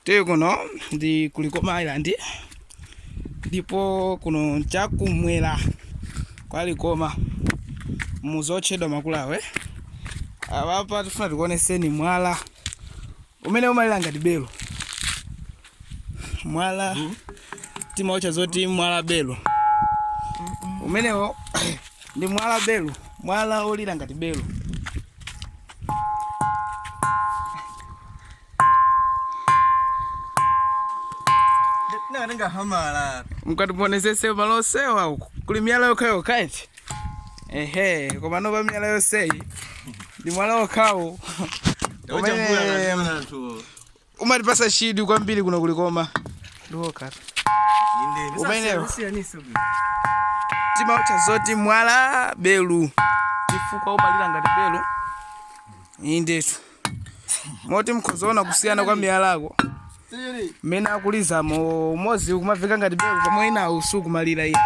tili kuno ndi ku Likoma island ndipo kuno nchakumwera kwa Likoma mudzi otchedwa Makulawe apapa tifuna tikuoneseni mwala umene umalira ngati belo mwala timautcha zoti mwala belo umenewo ndi mwala belu mwala olira ngati belu natenga hamala mukatiponesese malo osewa uku kuli miyala yokhayo kaiti ehe koma nopa miyala yoseyi ndi mwala okhawo umene umatipasa chidwi kwambiri kuno ku Likoma ndiwoka umenewo timautcha zoti mwala belu chifukwa umalira ngati belu indetu moti mukhoza kuona kusiyana kwa miyalako mmene akulizamo umodzi ukumaveka ngati belu pomwe enawo sukumalira iyayi